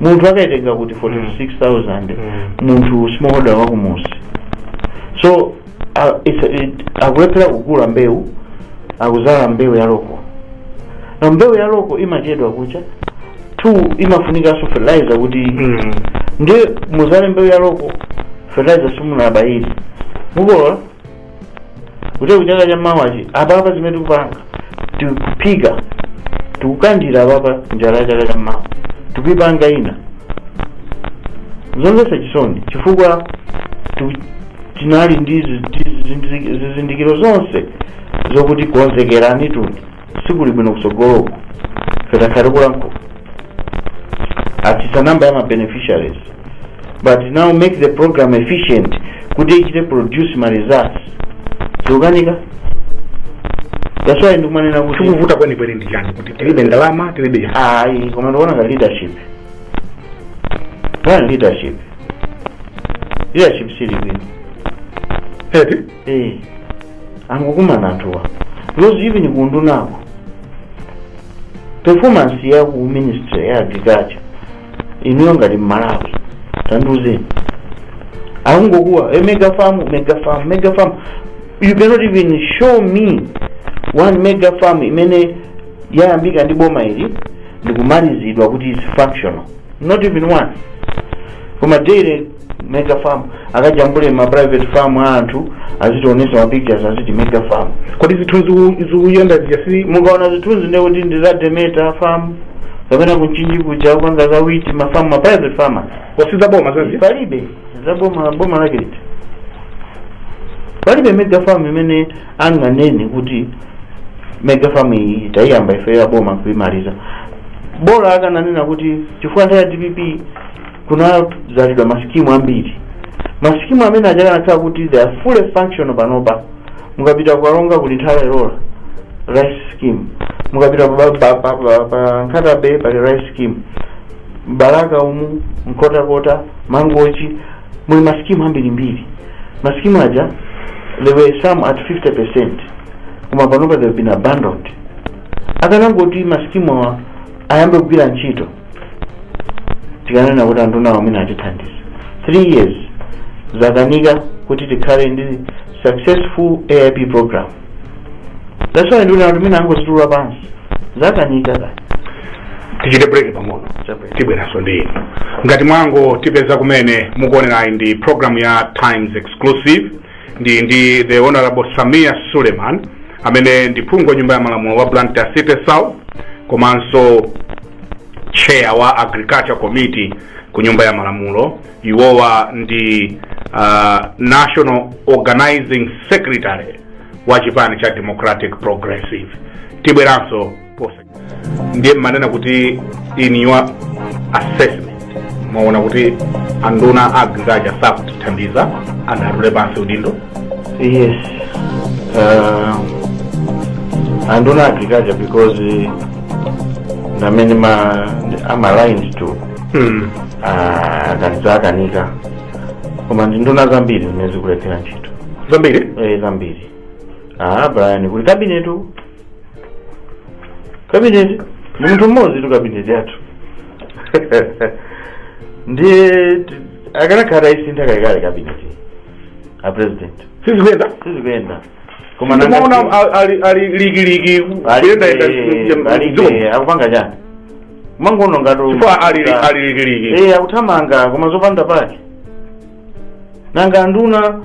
munthu akaitenga mukuti 46000 munthu smallholder wakumudzi so uh, it's, it, akulephera kugula mbewu akudzala mbewu ya loko na mbewu ya loko imachedwa kucha two imafunikanso fertilizer kuti Mm. ndiye mudzale mbewu ya loko fertilizer simunabayiri mukolola kuti kuchaka cha mawachi apapa zimene tikupanga tikuphika tikukandira apapa njala ya chaka cha mawa tikuipanga ino zomvetsa chisoni chifukwa tiku- tinali ndi zi- zi- zi- zizindikiro zonse zokuti konzekerani tu ni sikuli bwino kutsogoloku ife takhala tikulankhula atsitsa namba ya ma beneficiaries but now make the program efficient kuti ichite produce ma results zikukanika that's why ndikumanena kuti chikuvuta kwenikweni ndi chani kuti tilibe ndalama tilibe chani ayi koma ndikuona ngati leadership plan leadership leadership sili bwino eti eh angokumana anthuwa because even kuundunako performance ya ku ministry ya agriculture inuyo ngati mmalawi tandiuzeni akungokuwa e mega farm mega farm mega farm you cannot even show me one mega farm imene yayambika ndi boma ili ndikumalizidwa kuti is functional not even one koma daily mega farm akajambule ma private farm a anthu azitionesa ma pictures aziti mega farm kodi zithunzi zikuyenda zija si mukaona zithunzi ndiye kuti ndi za demeta farm kapena ku Mchinji kuja akupanga za wheat ma farm ma private farmers osati za boma palibe za boma boma lake liti palibe mega farm imene anganene kuti mega farm iyi tayiyamba ife ya boma nkuimaliza bora akananena kuti chifukwa nthawi ya dpp kunadzalidwa masikimu ambiri masikimu amene aja akanakhala kuti they are fully functional panopa mukapita kukalonga kuli Nthola ilola rice scheme mukapita pa- pa- pa- pa- pa nkhata bay pali rice scheme m'Balaka umu Nkhotakota mangochi muli masikimu ambirimbiri masikimu aja there were some at 50 percent koma panopa they've been abandoned akanangoti masikimu awa ayambe kugwira ntchito tikanena kuti anthu nawo amene atithandiza 3 years zakanika kuti tikhale ndi successful aip program that's why ndikuona kuti mwina angozitula pansi zakanika tatiyeni tichite break pang'ono tibweranso ndi inu ngati mwangotipeza kumene mukuonerayi ndi program ya times exclusive ndi ndi the honorable sameer suleman amene ndi phungu wa nyumba ya malamulo wa blantyre city south komanso chair wa agriculture committee ku nyumba ya malamulo iwowa ndi uh, national organizing secretary wa chipani cha democratic progressive tibweranso ndiye mumanena kuti in your assessment mwaona kuti anduna a agriculture sakutithandiza angotula pansi udindo yes uh, anduna a agriculture because eh, ndi amene I'm aligned to hmm. akanza akanika koma ndi nduna zambiri zimene zikulephera ntchito zambiri eh, zambiri ah brian kuli kabinetu kabineti ndi munthu mmodzitu kabineti yathu ndiye ti- akanakhala tayisintha kalekale kabineti a president sizikuyenda sizikuyenda koma ndimaona nanga- a- ali- ali likiliki kuyendayenda Alibe- alibe, akupanga chani kumangoona ngati chifukwa ali ali likiliki eh akuthamanga koma zopanda pake nanga anduna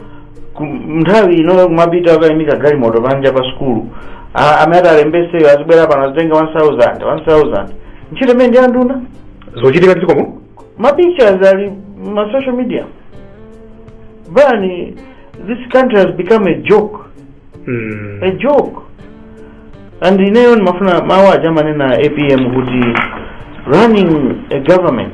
ku- nthawi ino kumapita akayimika galimoto panja pa sukulu A- amene atalembetseyo azibwera pano azitenga 1000 1000 ntchito imeneyi ndi anduna zochitikatu izi komanso ma pictures ali ma social media Brian this country has become a joke Mm. a joke and ineyo ndimafuna mawu aja amanena apm kuti running a government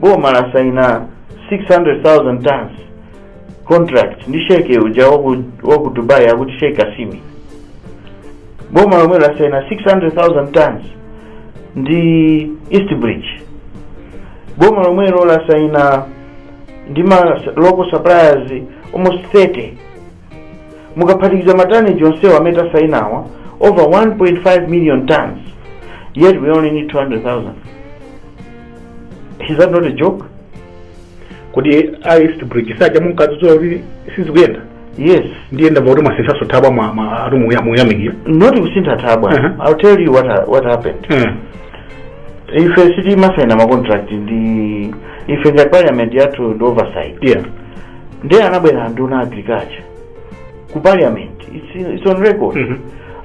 boma lasaina 600,000 tons contract ndi sheikh uja waku, waku dubai akuti sheikh Qasimi boma lomwelo lasaina 600,000 tons ndi east bridge boma lomwelo lasaina ndi ma local suppliers almost 30 mukaphatikiza ma tonnage onsewa amene atasainawa over 1.5 million tons yet we only need 200,000 is that not a joke kodi east bridge si ija munkadzudzula kuti sizikuyenda yes ndiye ndamva kuti mwasinthanso thabwa mwa- mwa- ati muya- muyamikira not kusintha thabwa Uh-huh. i'll tell you what, ha- what happened Eh, ife sitimasaina macontract ndi ife ngati parliament yathu ndi oversight yeah ndiye anabwera anduna agriculture ku parliament it's, in- it's on record Mhm.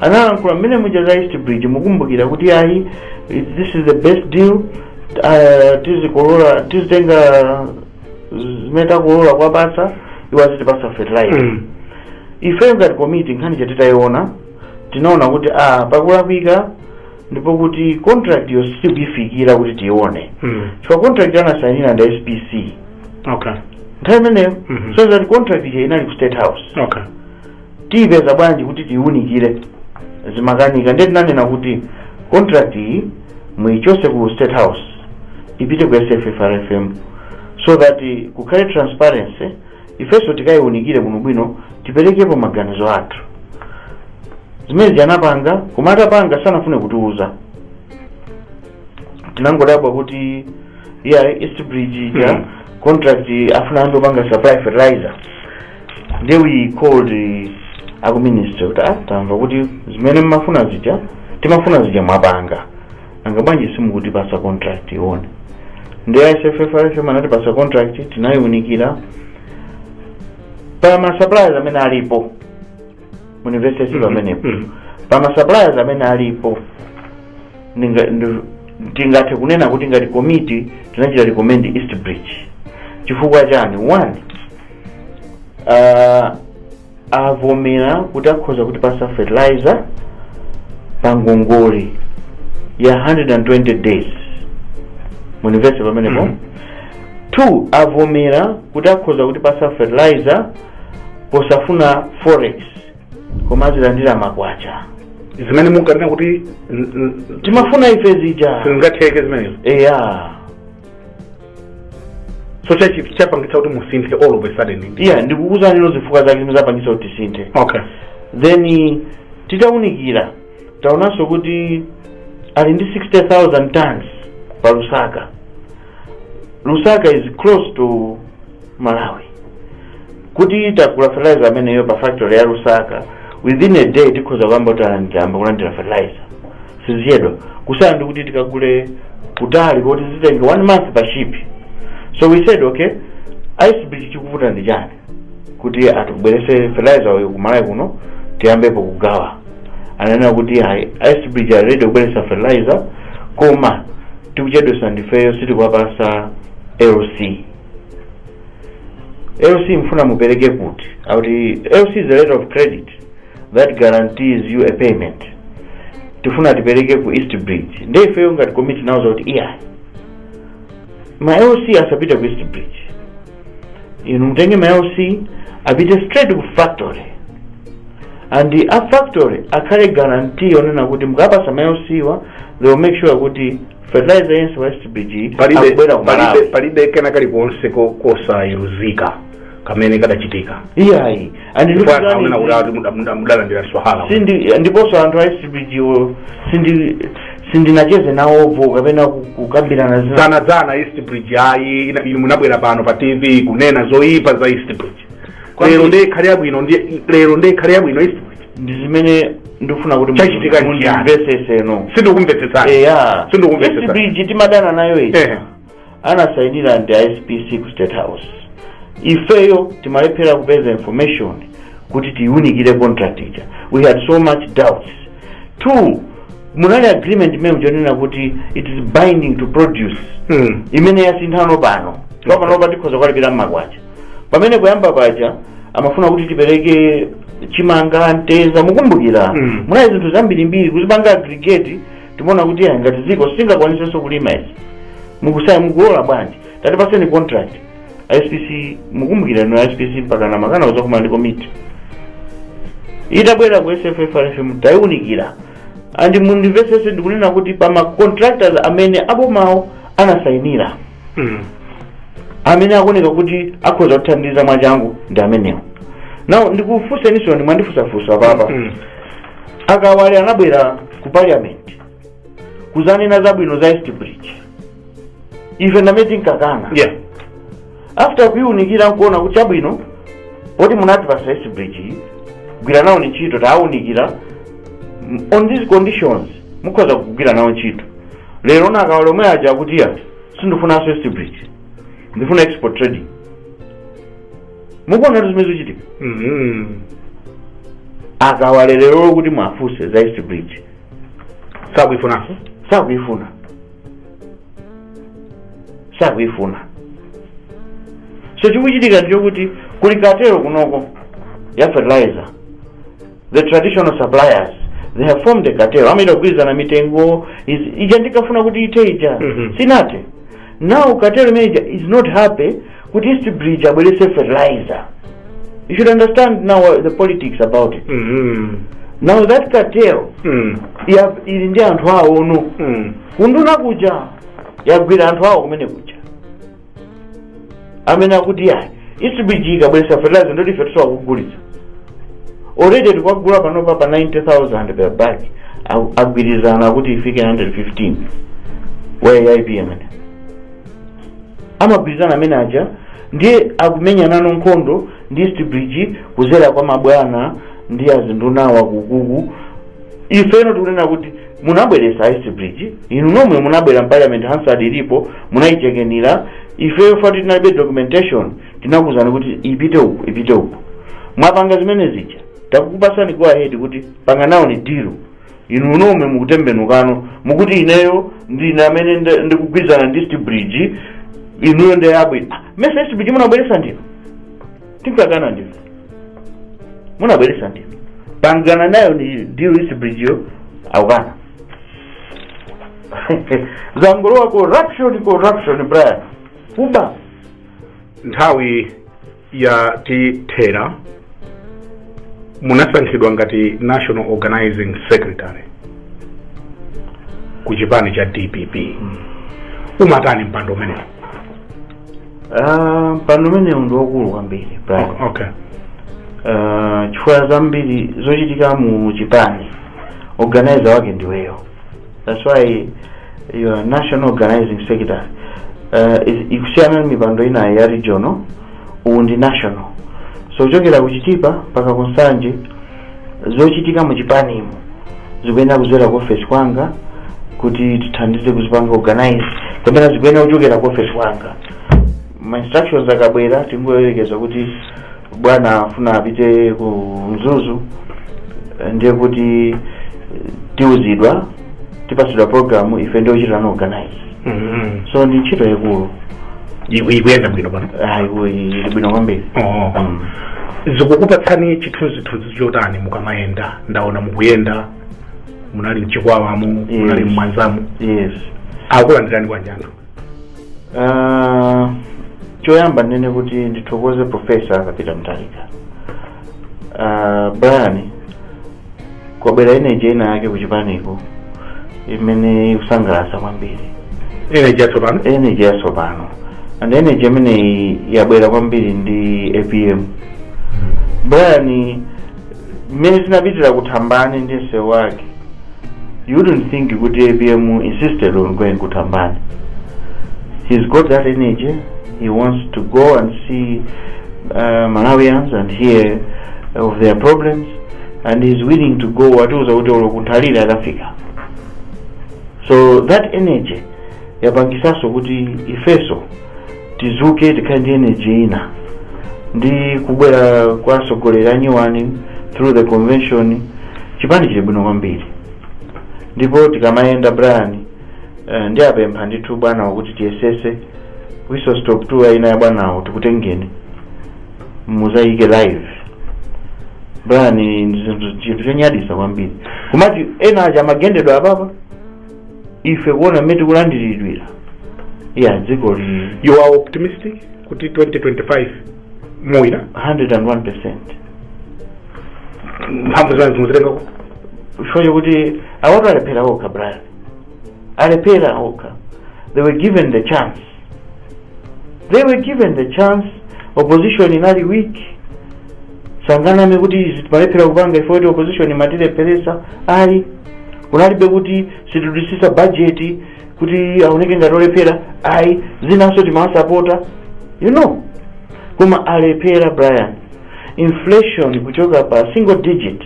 analankhula mmene muja za east bridge mukumbukira kuti ayi it- this is the best deal uh, tizikolola tizitenga zimene takolola kwapatsa iwo azitipasa fertilizer Mm. ife ngati komiti nkhani ija titayiona tinaona kuti ah pakulakwika ndipo kuti contract yo sitikuyifikira kuti tiyione Mm. chifukwa contract anasainira ndi spc okay nthawi imeneyo Mhm. zoonetsa kuti contract ija inali ku state house okay tiyipeza bwanji kuti tiyiunikire zimakanika ndiye tinanena kuti contract iyi muyichose ku state house ipite ku sffrfm so that eh, kukhale transparency ifenso tikayiunikire bwinobwino tiperekepo maganizo athu zimenezi anapanga koma atapanga sanafune kutiuza tinangodabwa kuti ya east bridge ija Mhm. contract afuna anthu opanga supply fertilizer ndiye we called eh, aku ministry kuti ah tamva kuti zimene mmafuna zija timafuna zija mwapanga nanga bwanji simukutipasa contract tiione ndiye sffrfm anatipasa contract tinayiunikira pa ma suppliers amene alipo mu industry Mhm, pamenepo mhm. pa ma suppliers amene alipo ndinga- ndi- tingathe kunena kuti ngati komiti tinachita recommend east bridge chifukwa chani one uh, avomera kuti akhoza kutipasa fertilizer pa ngongole ya 120 days mundimvetse pamenepo Mhm. two avomera kuti akhoza kutipasa fertilizer posafuna forex koma azilandira makwacha zimene munkanena kuti n- n- timafuna ife zija sizingatheke zimenezo eya so cha- chapangitsa kuti musinthe all of a sudden eya ndikukuuzani zifukwa zake zimene zapangitsa kuti tisinthe okay then titaunikira taonanso kuti ali ndi 60000 tons pa lusaka lusaka is close to malawi kuti titagula fertilizer ameneyo pa factory ya lusaka within a day tikhoza kuyamba kutalandira amba kulandira fertilizer sizichedwa kusiyana ndi kuti tikagule kutali koti zitenge one month pa ship so we said okay east bridge chikuvuta ndi chani kuti atibwerese fertilizer uyu ku malawi kuno tiyambepo kugawa ananena kuti ayi east bridge ali ready kubweresa fertilizer koma tikuchedwesa ndifeyo sitikuwapasa lc lc mufuna mupereke kuti akuti lc is a letter of credit that guarantees you a payment tifuna tipereke ku east bridge nde ifeyo ngati komiti tinawauza kuti iya ma lc asapita ku east bridge inu mutenge ma lc apite straight ku factory and a factory apange guarantee yonena kuti mukatipasa ma lc wa they will make sure kuti fertilizer yense wa east bridge palibe akubwera ku palibe malawi palibe kena kalikonse ko- kosayenera kamene kadachitika iyayi And you Kwa know, akanena kuti ati muda- muda- mudalandira swahala sindi ndiponso anthu a east bridge wo sindi sindinacheze nawopo kapena ku- kukambirana zina dzana dzana east bridge ayi ina- inu munabwera pano pa tv kunena zoyipa za east bridge Kwa- lero nde ikhale yabwino ndi- lero nde ikhale yabwino east bridge ndi zimene ndikufuna kuti Chachitika ndi chiyani? mundimvesese no sindikumvetsetsani eya Sindikumvetsetsani. east bridge timadana nayo iyi Ehe. anasainira ndi a SPC ku State House ifeyo timalephera kupeza information kuti tiunikire contract ija we had so much doubts two munali agreement imene ija yonena kuti it is binding to produce Mm. imene yasinthano pano panopa tikhoza kuwalipira mmakwacha pamene kuyamba paja amafuna kuti tipereke chimanga mtedza mukumbukira Mm. munali zinthu zambirimbiri kuzipanga aggregate timaona kuti ya ngati dziko sitingakwanisenso kulima izi mukusaya mukulola bwanji tatipaseni contract ISPC mukumbukira no ISPC mpaka na makana uzakumana ndi komiti itabwera ku SFFRFM tayiunikira and mundimvesese ndikunena kuti pa ma contractors amene abomawo anasayinira Mm. amene akuoneka kuti akhoza kuthandiza mwachangu ndi amenewo now ndikufunseniso ndi mwandifunsafunsa papa Mm. a Kawale anabwera ku parliament kuzanena zabwino za East Bridge ife ndi amene tinkakana yeah after kuiunikira nkuona kuti chabwino poti munatipatsa East Bridge iyi, gwira nawoni ntchito tawunikira m- on these conditions mukhoza kugwira nawo ntchito lero ndi a Kawale omwe aja akuti ya sindifunanso East Bridge ndifuna Export Trading mukuona kuti zimene zikuchitika Mhm. a Kawale lero kuti muwafunse za East Bridge sakuifunanso sakuifuna sakuifuna so chikuchitika ndichokuti kuli katero kunoko ya fertilizer the traditional suppliers they have formed a cartel amene akugwirizana mitengo is- ija ndinkafuna kuti ithe ija Mhm. sinathe now cartel imene ija is not happy kuti East Bridge abwerese fertilizer you should understand now uh, the politics about it Mhm. now that cartel Mm. ya- ili ndi anthu awo ono Mm. kunduna kuja yagwira anthu awo kumene kuja amene akuti ayi East Bridge ikabweresa fertilizer ndoti ife tizakagulitsa already tikugula panopa pa 90000 per bag Agu- agwirizana kuti ifike 115 wa AIP amene amagwirizana amene aja ndiye akumenyanano nkhondo ndi East Bridge kuzera kwa mabwana ndi azinduna akukuku ifeno tikunena kuti munabweresa East Bridge inu nomwe munabwera mparliament hansard ilipo munayishekenira ifeyo first tinalibe documentation tinakuuzani kuti ipite uku ipite uku mwapanga zimene zija takukupasani go ahead kuti panga nawoni deal inu nomwe mukutembenukano mukuti ineyo ndine amene nda- ndikugwirizana ndi East Bridge inuyo ndiye abwino nesa East Bridge munabweresa ndinu tinkakana ndife munabweresa ndinu panga nayoni deal East Bridgeyo akukana zangolowa corruption corruption Brian kuba nthawi yatithera munasankhidwa ngati national organizing secretary ku chipani cha DPP umatani mpando umenewo Ah, mpando umenewu ndi wakulu kwambiri Brian. O- okay Ah, chifukwa zambiri zochitika mu chipani organizer wake ndiweyo that's why you are national organizing secretary uh, is- ikusiyana ndi mipando ina ya regional uwu ndi national so kuchokera ku Chitipa mpaka ku Nsanje zochitika mu chipanimu zikuyenera kudzera ku ofesi kwanga kuti tithandize kuzipanga organize kapena zikuyenera kuchokera ku ofesi kwanga ma instructions akabwera tingoyerekeza kuti bwana afuna apite ku Mzuzu eh, ndiye kuti eh, tiuzidwa tipatsidwa programu ife ndi ochitano organize Mhm. so ndi ntchito yaikulu Iku- ikuyenda bwino pano ayiwo ili bwino kwambiri Oh. Mm. zikukupatsani chithunzithunzi chotani mukamayenda ndaona mukuyenda munali m'Chikwawamo munali Yes. m'Mwanzamo yes akulandirani bwanji anthu Ah, choyamba ndinene kuti ndithokoze profesa Arthur Peter Mutharika Ah, Brian kwabwera energy ina yake kuchipaniko imene ikusangalatsa kwambiri energy yatsopano energy yatsopano and energy imeneyi yabwera kwambiri ndi APM Brian mmene tinapitira ku Thambani ndi msewu wake you wouldn't think kuti APM insisted on going ku Thambani he's got that energy he wants to go and see uh, Malawians and hear of their problems and he's willing to go watiuza kuti olo ku Nthalire akafika so that energy yapangisanso kuti ifeso tizuke tikhale ndi energy ina ndi kubwera kwa atsogoleri anyuwani through the convention chipani chili bwino kwambiri ndipo tikamayenda Brian eh, ndiwapempha ndithu bwanawo kuti tiyesese whistle stop tour ina ya bwanawo tikutengeni muzayike live Brian ni ni zinthu- chinthu chonyadisa kwambiri kumati ena aja akumagendedwa apapa ife kuona mmene tikulandiridwira iya dzikoli you are optimistic kuti 2025 muwina 101 percent mphamvu zanu mukuzitenga kuti chifukwa chokuti awatu alephera okha Brian alephera okha they were given the chance they were given the chance opposition inali weak sanganame kuti timalephera kupanga chifukwa choti opposition imatilepheresa ayi kunalibe kuti sitidusisa bajeti kuti aoneke ngati olephera ayi zinanso timawasapota you know koma alephera Brian inflation kuchoka pa single digit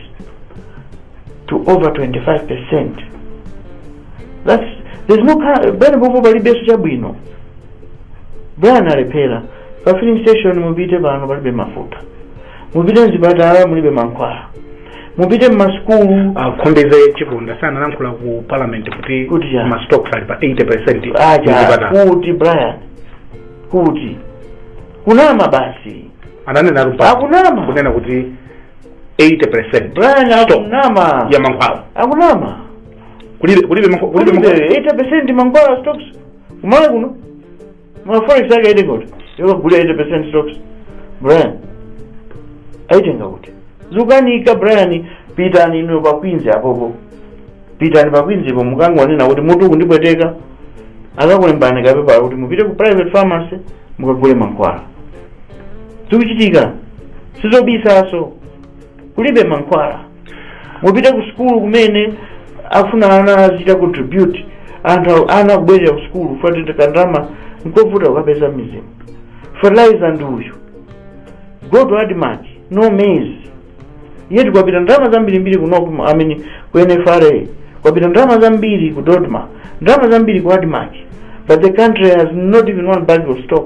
to over 25 percent That's, there's no car, bwana popo palibenso chabwino brian alephera pa filling station mupite pano palibe mafuta mupite mzipatala mulibe mankhwala mupite mmasukulu a khumbize chiponda sanalankhula ku parliament kuti Kuti chani? mastock ali pa 80 percent acha kuti brian kuti kunama basi ananena lupa Akunama. kunena kuti 80 percent brian Stop. akunama ya mankhwala akunama kulibe kulibe mank- kulibe mank- kulibe eighty percent mankhwala a stocks kumalawi kuno ma forex ake aitenga kuti yokagula eighty percent stocks brian aitenga kuti zukanika brian pitani inu pa queens apopo pitani pa queens po mukangonena kuti mutu ukundipweteka akakulembani kapepala kuti mupite ku private pharmacy mukagule mankhwala zikuchitika sizobisaso kulibe mankhwala mupite ku sukulu kumene afuna ana azichita contribute anthu ana kubwerera ku sukulu fatete kandalama nkovuta kukapeza mmidzimu fertilizer ndi uyu go to admarc no maize yet kwapita ndalama zambirimbiri ku NOCMA, I mean, ku nfra kwapita ndalama zambiri ku dodma ndalama zambiri ku admarc but the country has not even one bag of stock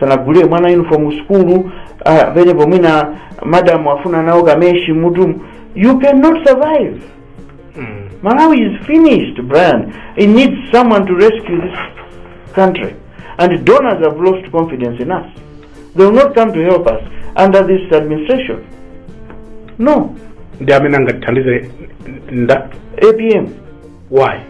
sanagulire mwana uniform ku sukulu ah, penepo mwina madam afuna nawo kameshi mutu you cannot survive Mm. Malawi is finished, Brian. It needs someone to rescue this country. And donors have lost confidence in us. They will not come to help us under this administration. No. ndi amene angatithandize nda APM. why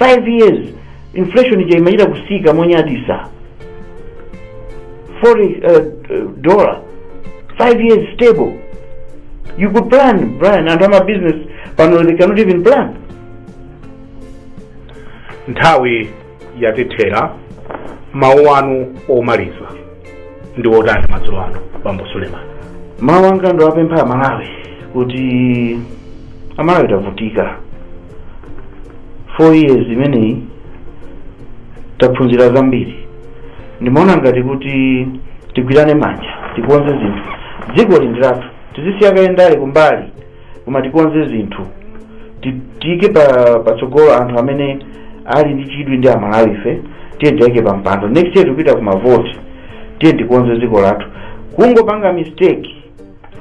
5 years inflation ija imachita kusika monyadisa foreign uh, uh, dollar 5 years stable you could plan brian anthu ama business pano they cannot even plan nthawi yatithera mawu anu omaliza ndi otani madzulo ano bambo suleman mawu anga ndowapempha amalawi kuti amalawi tavutika 4 years imeneyi taphunzira zambiri ndimaona ngati kuti tigwirane manja tikonze zinthu dzikoli ndi lathu tizisiye kaye ndale kumbali koma tikonze zinthu Ti- tiike pa patsogolo anthu amene ali ndi chidwi ndi amalawi ife tiye tiwaike pa mpando next year tikupita ku mavoti tiye tikonze dziko lathu kungopanga mistake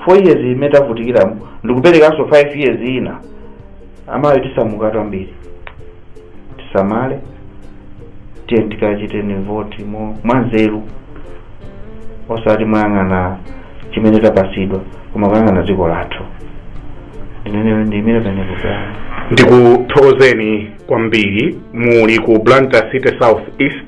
4 years imene tavutikiramu ndikuperekanso 5 years ina amalawi tisamuka ambiri tisamale tiye tikachiteni voti mo- mwanzeru osati moyang'ana chimene tapasidwa koma kuyang'ana dziko lathu ndinene ndimene penekutana ndikuthokozeni kwambiri muli ku blantyre city south east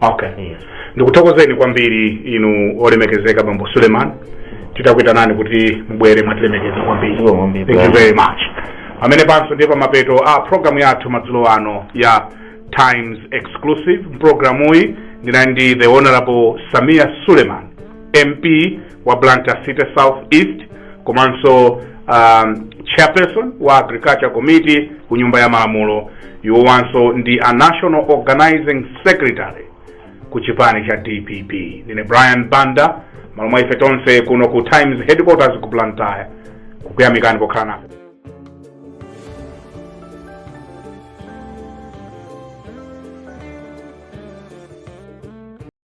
okay ndikuthokozeni kwambiri inu olemekezeka bambo suleman titakuitanani kuti mubwere mwatilemekeza kwambiri Zikomo kwambiri. thank you very much pamenepanso ndiye pamapeto a programu yathu madzulo ano ya times exclusive mpulogalamuyi ndinali ndi the honorable sameer suleman mp wa blantyre city south east komanso um, chairperson wa agriculture committee ku nyumba ya malamulo iwowanso ndi a national organizing secretary ku chipani cha dpp ndine brian banda malo mwa ife tonse kuno ku times headquarters ku blantyre kukuyamikani pokhala nafe